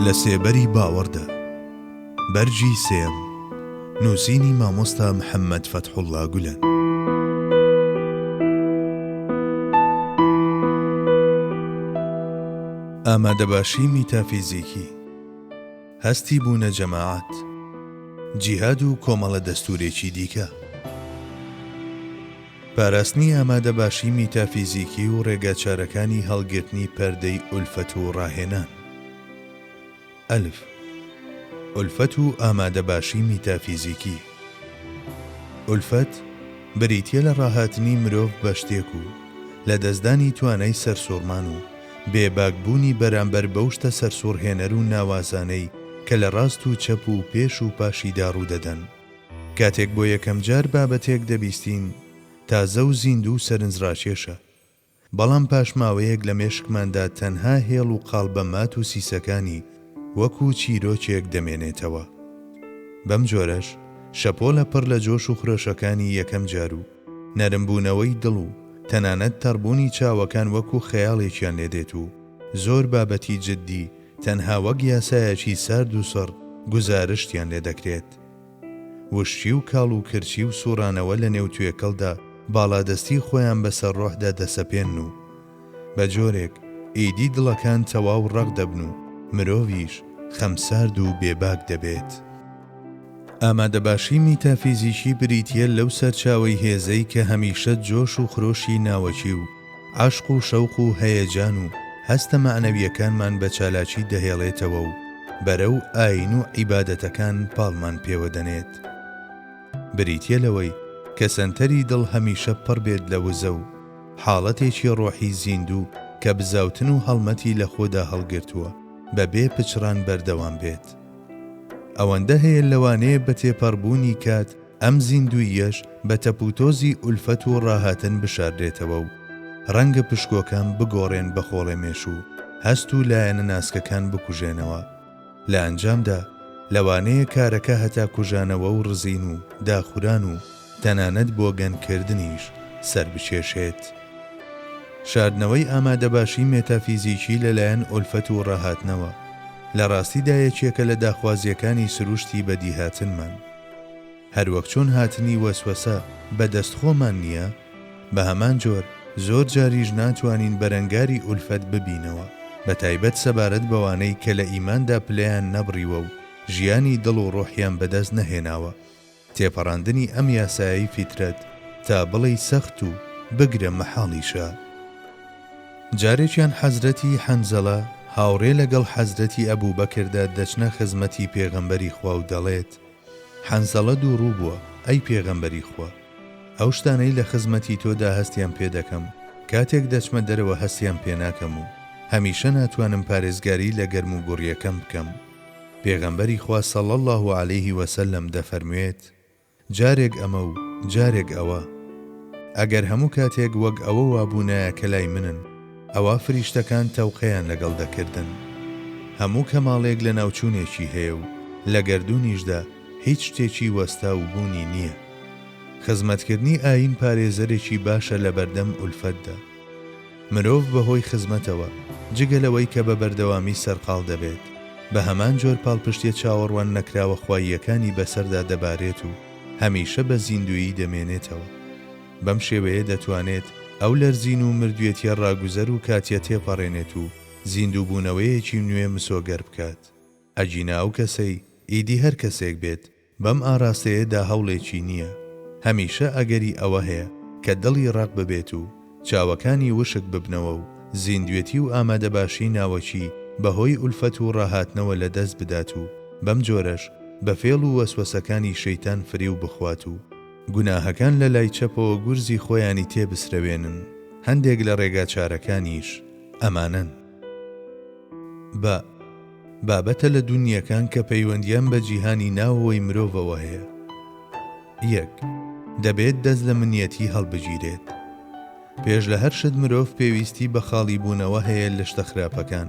لە سێبەری باوەڕدا، بەرگی سێم، نووسینی مامۆستا محەممەد فەتحوڵڵا گولەن. ئامادەباشی میتافیزیکی. هەستی بوونە جەماعەت. جیهاد و کۆمەڵە دەستوورێکی دیکە. پاراستنی ئامادەباشی میتافیزیکی و ڕێگاچارەکانی هەڵگرتنی پەردەی ئولفەت و ڕاهێنان. ئەلف. ئولفەت و ئامادەباشی میتافیزیکی. ئولفەت بریتیە لە ڕاهاتنی مرۆڤ بە شتێک و لە دەستدانی توانای سەرسوڕمان و بێ باک بوونی بەرامبەر بەو شتە سەرسوڕهێنەر و ناوازانەی کە لە ڕاست و چەپ و پێش و پاشیدا ڕوودەدەن. کاتێک بۆ یەکەمجار بابەتێک دەبیستین تازە و زیندوو و سەرنجڕاکێشە. بەڵام پاش ماوەیەک لە مێشکماندا تەنها هێڵ و قاڵبە مات و سیسەکانی وەکو چیرۆکێک دەمێنێتەوە. بەم جۆرەش شەپۆلە پڕ لە جۆش و خرۆشەکانی یەکەم جار و نەرمبوونەوەی دڵ و تەنانەت تەڕبوونی چاوەکان وەکو خەیاڵێکیان لێ دێت و زۆر بابەتی جددی تەنها وەک یاسایەکی سارد و سڕ گوزارشتیان لێ دەکرێت. وشکی و کاڵ و کرچی و سووڕانەوە لە نێو توێکڵدا باڵادەستی خۆیان بەسەر ڕۆحدا دەسەپێنن و بە جۆرێک ئیدی دڵەکان تەواو ڕەق دەبن و مرۆڤیش خەمسارد و بێباک دەبێت. ئامادەباشی میتافیزیکی بریتییە لەو سەرچاوەی هێزەی کە هەمیشە جۆش و خرۆشی ناوەکی و عەشق و شەوق و هەیەجان و هەستە مەعنەوییەکانمان بە چالاکی دەهێڵێتەوە و بەرەو ئایین و عیبادەتەکان پاڵمان پێوە دەنێت. بریتییە لەوەی کە سەنتەری دڵ هەمیشە پڕ بێت لە وزە و حاڵەتێکی ڕۆحی زیندوو کە بزاوتن و هەڵمەتی لە خۆدا هەڵگرتووە بە بێ پچڕان بەردەوام بێت. ئەوەندە هەیە لەوانەیە بە تێپەڕبوونی کات ئەم زیندووییەش بە تەپوتۆزی ئولفەت و ڕاهاتن بشاردرێتەوە و ڕەنگە پشکۆکان بگۆڕێن بە خۆڵێ مێش و هەست و لایەنە ناسکەکان بکوژێنەوە. لە ئەنجامدا لەوانەیە کارەکە هەتا کوژانەوە و ڕزین و داخوران و تەنانەت بۆگەنکردنیش سەربکێشێت. شاردنەوەی ئامادەباشی مێتافیزیکی لەلایەن ئولفەت و ڕاهاتنەوە، لە ڕاستیدا یەکێکە لە داخوازییەکانی سروشتی بەدیهاتنمان. هەروەک چۆن هاتنی وەسوەسە بە دەست خۆمان نییە، بە هەمان جۆر زۆر جاریش ناتوانین بەرەنگاری ئولفەت ببینەوە، بە تایبەت سەبارەت بەوانەی کە لە ئیماندا پلەیان نەبڕیوە و ژیانی دڵ و ڕۆحیان بەدەست نەهێناوە. تێپەڕاندنی ئەم یاسایەی فیترەت تا بڵێی سەخت و بگرە مەحاڵیشە. جارێکیان حەزرەتی، حەنزەلە، هاوڕێ لەگەڵ حەزرەتی، ئەبوبەکردا دەچنە خزمەتی پێغەمبەری خوا و دەڵێت، حەنزەڵە دووڕوو بووە، ئەی پێغەمبەری خوا! ئەو شتانەی لە خزمەتی تۆدا هەستیان پێ دەکەم، کاتێک دەچمە دەرەوە هەستیان پێ ناکەم و هەمیشە ناتوانم پارێزگاری لە گەرموگوڕییەکەم بکەم. پێغەمبەری خوا صلی اللە علیه وسلم دەفەرموێت، جارێک ئەمە و جارێک ئەوە. ئەگەر هەموو کاتێک وەک ئەوە وابوونایە کە لای منن، ئەوا فریشتەکان تەوقەیان لەگەڵ دەکردن. هەموو کەماڵێک لەناوچوونێکی هەیە و لە گەردوونیشدا هیچ شتێکی وەستاو بوونی نییە. خزمەتکردنی ئایین پارێزەرێکی باشە لەبەردەم ئولفەتدا. مرۆڤ بەهۆی خزمەتەوە، جگە لەوەی کە بە بەردەوامی سەرقاڵ دەبێت، بە هەمان جۆر پاڵپشتییە چاوەڕوان نەکراوە خواییەکانی بەسەردا دەبارێت و هەمیشە بە زیندوویی دەمێنێتەوە. بەم شێوەیە دەتوانێت ئەو لەرزین و مردوێتییە ڕاگوزەر و کاتییە تێپەڕێنێت و زیندووبوونەوەیەکی نوێ مسۆگەر بکات. ئەگینا ئەو کەسەی ئیدی هەر کەسێک بێت، بەم ئاراستەیە دا هەوڵێکی نییە. هەمیشە ئەگەری ئەوە هەیە کە دڵی ڕەق ببێت و چاوەکانی وشک ببنەوە و زیندوێتی و ئامادەباشی ناوەکی بە هۆی ئولفەت و ڕاهاتنەوە لە دەست بدات و بەم جۆرەش بە فێڵ و وەسوەسەکانی شەیتان فریو بخوات و گوناهەکان لە لای چەپەوە گورزی خۆیانی تێ بسرەوێنن. هەندێک لە ڕێگاچارەکانیش ئەمانەن. بە. بابەتە لە دونییەکان کە پەیوەندیان بە جیهانی ناوەوەی مرۆڤەوە هەیە. یەک. دەبێت دەست لە منیەتی هەڵبگیرێت. پێش لە هەر شت مرۆڤ پێویستی بە خاڵی بوونەوە هەیە لە شتە خراپەکان.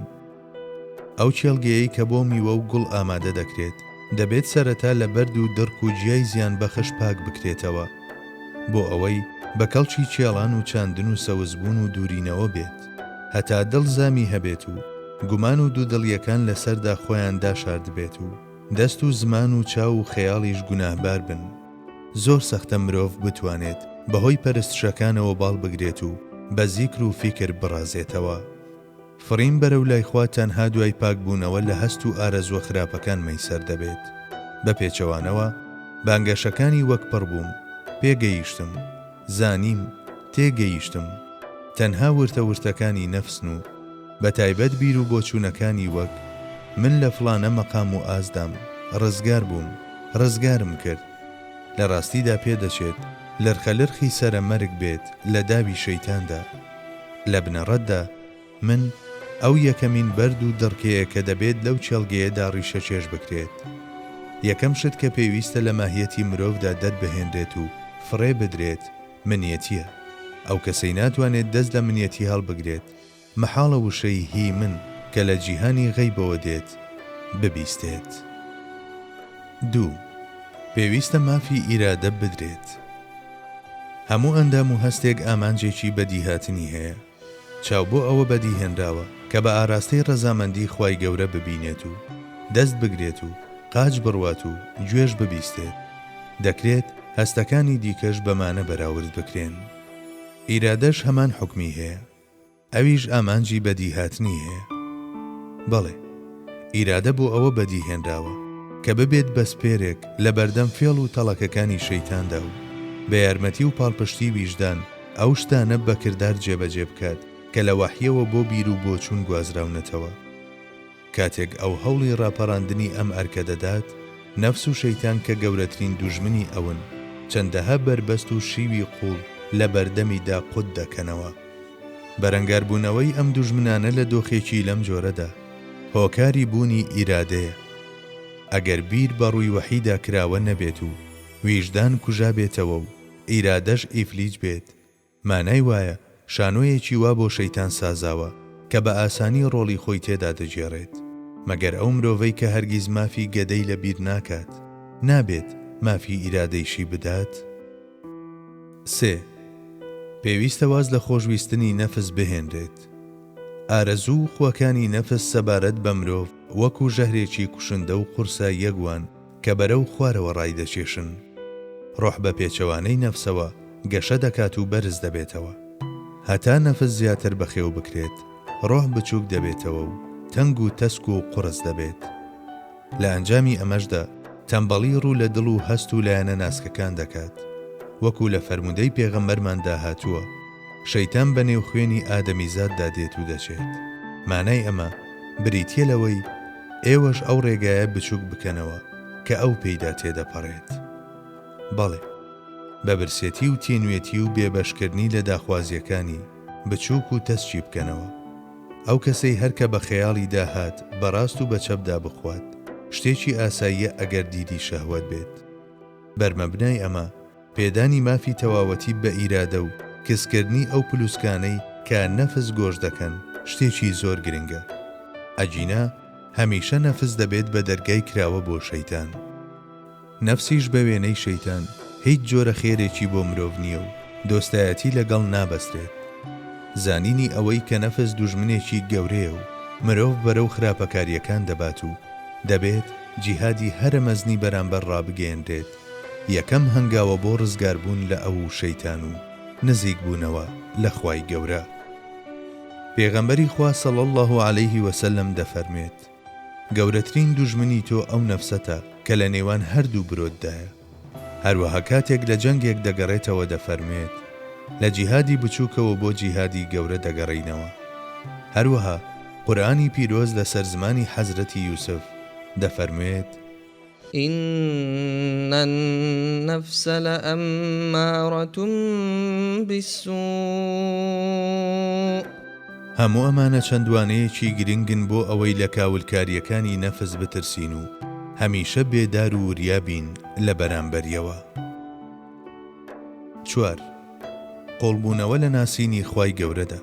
ئەو کێڵگەیەی کە بۆ میوە و گوڵ ئامادە دەکرێت، دەبێت سەرەتا لە بەرد و دڕک و جیای زیانبەخش پاک بکرێتەوە، بۆ ئەوەی بە کەڵکی کێڵان و چاندن و سەوزبوون و دوورینەوە بێت. هەتا دڵ زامی هەبێت و گومان و دوودڵییەکان لە سەردا خۆیان داشاردبێت و دەست و زمان و چاو و خەیاڵیش گوناهبار بن. زۆر سەختە مرۆڤ بتوانێت بە هۆی پەرستشەکانەوە باڵ بگرێت و بە زیکر و فیکر بڕازێتەوە. فڕین بەرەو لای خوا تەنها دوای پاک بوونەوە لە هەست و ئارەزووە خراپەکان مەیسەر دەبێت. بە پێچەوانەوە، بانگەشەکانی وەک پڕ بووم، پێگەیشتم، زانیم، تێگەیشتم، تەنها ورتە ورتەکانی نەفسن و بە تایبەت بیر و بۆچوونەکانی وەک، من لە فڵانە مەقام و ئاستدام، ڕزگار بووم، ڕزگارم کرد. لە ڕاستیدا پێدەچێت لرخەلرخی سەرە مەرگ بێت لە داوی شەیتاندا. لە بنەڕەتدا، من ئەو یەکەمین بەرد و دڕکەیە کە دەبێت لەو کێڵگەیەدا ڕیشەکێش بکرێت. یەکەم شت کە پێویستە لە ماهیەتی مرۆڤدا دەربهێنرێت و فڕێ بدرێت، منیەتییە. ئەو کەسەی ناتوانێت دەست لە منیەتی هەڵبگرێت، مەحاڵە وشەی هی من کە لە جیهانی غەیبەوە دێت، ببیستێت. دوو. پێویستە مافی ئیرادە بدرێت. هەموو ئەندام و هەستێک ئامانجێکی بەدیهاتنی هەیە. چاو بۆ ئەوە بەدی هێنراوە کە بە ئاراستەی ڕەزامەندی خوای گەورە ببینێت و دەست بگرێت و قاچ بڕوات و گوێش ببیستێت، دەکرێت هەستەکانی دیکەش بەمانە بەراورد بکرێن. ئیرادەش هەمان حوکمی هەیە. ئەویش ئامانجی بەدیهاتنی هەیە. بەڵێ، ئیرادە بۆ ئەوە بەدی هێنراوە کە ببێت بە سپێرێک لە بەردەم فێڵ و تەڵەکەکانی شەیتاندا و بە یارمەتی و پاڵپشتی ویژدان، ئەو شتانە بە کردار جێبەجێ بکات کە لە وەحییەوە بۆ بیر و بۆچوون گوازراونەتەوە. کاتێک ئەو هەوڵی ڕاپەڕاندنی ئەم ئەرکە دەدات، نەفس و شەیتان کە گەورەترین دوژمنی ئەون، چەندەها بەربەست و شیوی قووڵ لە بەردەمیدا قوت دەکەنەوە. بەرەنگاربوونەوەی ئەم دوژمنانە لە دۆخێکی لەم جۆرەدا، هۆکاری بوونی ئیرادەیە. ئەگەر بیر بە ڕووی وەحیدا کراوە نەبێت و ویژدان کوژابێتەوە و ئیرادەش ئیفلیج بێت مانای وایە شانۆیەکی وا بۆ شەیتان سازاوە کە بە ئاسانی ڕۆڵی خۆی تێدا دەگێڕێت مەگەر ئەو مرۆڤەی کە هەرگیز مافی گەدەی لە بیر ناکات نابێت مافی ئیرادەیشی بدات؟ سێ. پێویستە واز لە خۆشویستنی نەفس بهێنرێت. ئارەزوو و خواکانی نەفس سەبارەت بە مرۆڤ وەکوو ژەهرێکی کوشندە و قورسە یەک وان کە بەرەو خوارەوە ڕایدەکێشن. ڕۆح بە پێچەوانەی نەفسەوە گەشە دەکات و بەرز دەبێتەوە. هەتا نەفس زیاتر بەخێو بکرێت، ڕۆح بچووک دەبێتەوە و تەنگ و تەسک و قوڕس دەبێت. لە ئەنجامی ئەمەشدا تەمبەڵی ڕوو لە دڵ و هەست و لایەنە ناسکەکان دەکات. وەکو لە فەرموودەی پێغەمبەرماندا هاتووە، شەیتان بە نێو خوێنی ئادەمیزاددا دێت و دەچێت. مانای ئەمە بریتییە لەوەی ئێوەش ئەو ڕێگایە بچووک بکەنەوە کە ئەو پێیدا تێدەپەڕێت. بەڵێ، بە برسێتی و تینوێتی و بێبەشکردنی لە داخوازییەکانی، بچووک و تەسکی بکەنەوە. ئەو کەسەی هەر کە بە خەیاڵیدا هات بە ڕاست و بە چەپدا بخوات، شتێکی ئاساییە ئەگەر دیدی شەهوەت بێت. بەرمەبنای ئەمە، پێدانی مافی تەواوەتی بە ئیرادە و کزکردنی ئەو پلوسکانەی کە نەفس گۆش دەکەن شتێکی زۆر گرنگە. ئەگینا هەمیشە نەفس دەبێت بە دەرگای کراوە بۆ شەیتان. نەفسیش بە وێنەی شەیتان هیچ جۆرە خێرێکی بۆ مرۆڤ نییە و دۆستایەتی لەگەڵ نابەسترێت. زانینی ئەوەی کە نەفس دوژمنێکی گەورەیە و مرۆڤ بەرەو خراپەکارییەکان دەبات و دەبێت جیهادی هەرە مەزنی بەرامبەر ڕابگەیەنرێت، یەکەم هەنگاوە بۆ ڕزگاربوون لە ئەو و شەیتان و نزیک بوونەوە لە خوای گەورە. پێغەمبەری خوا صلی اللە علیه وسلم دەفەرموێت، گەورەترین دوژمنی تۆ ئەو نەفسەتە کە لە نێوان هەردوو برۆتدایە. هەروەها کاتێک لە جەنگێک دەگەڕێتەوە دەفەرموێت، لە جیهادی بچووکەوە بۆ جیهادی گەورە دەگەڕێینەوە. هەروەها قورئانی پیرۆز لەسەر زمانی حەزرەتی یوسف دەفەرموێت، ان النفس لامارة بالسوء. هەموو ئەمانە چەند وانەیەکی گرنگن بۆ ئەوەی لە کاولکارییەکانی نەفس بترسین و هەمیشە بێدار و وریا بین لە بەرامبەریەوە. چوار، قوڵبوونەوە لە ناسینی خوای گەورەدا.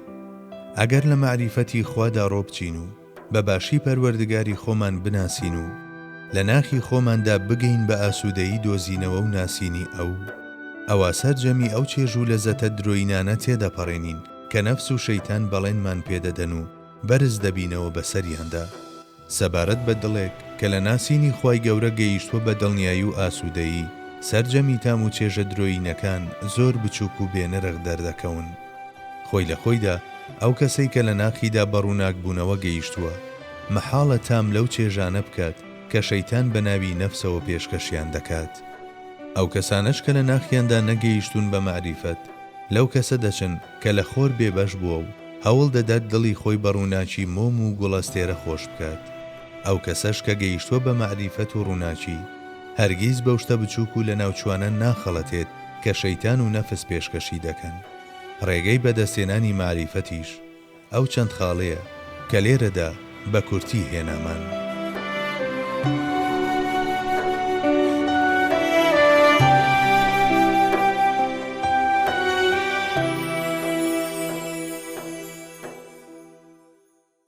ئەگەر لە مەعریفەتی خوادا ڕۆبچین و، بە باشی پەروەردگاری خۆمان بناسین و لە ناخی خۆماندا بگەین بە ئاسوودەیی دۆزینەوە و ناسینی ئەو، ئەوا سەرجەمی ئەو چێژ و لەزەتە درۆینانە تێدەپەڕێنین کە نەفس و شەیتان بەڵێنمان پێدەدەن و بەرز دەبینەوە بەسەریاندا. سەبارەت بە دڵێک کە لە ناسینی خوای گەورە گەیشتووە بە دڵنیایی و ئاسوودەیی، سەرجەمی تام و چێژە درۆیینەکان زۆر بچووک و بێنرخ دەردەکەون. خۆی لە خۆیدا ئەو کەسەی کە لە ناخیدا بە ڕووناکبوونەوە گەیشتووە، مەحاڵە تام لەو چێژانە بکات کە شەیتان بە ناوی نەفسەوە پێشکەشیان دەکات. ئەو کەسانەش کە لە ناخیاندا نەگەیشتوون بە مەعریفەت، لەو کەسە دەچن کە لە خۆر بێبەش بووە و هەوڵ دەدات دڵی خۆی بە ڕووناکی مۆم و گوڵەستێرە خۆش بکات. ئەو کەسەش کە گەیشتووە بە مەعریفەت و ڕووناکی، هەرگیز بەو شتە بچووک و لەناوچووانە ناخەڵەتێت کە شەیتان و نەفس پێشکەشی دەکەن. ڕێگەی بەدەستهێنانی مەعریفەتیش ئەو چەند خاڵەیە کە لێرەدا بە کورتی هێنامان.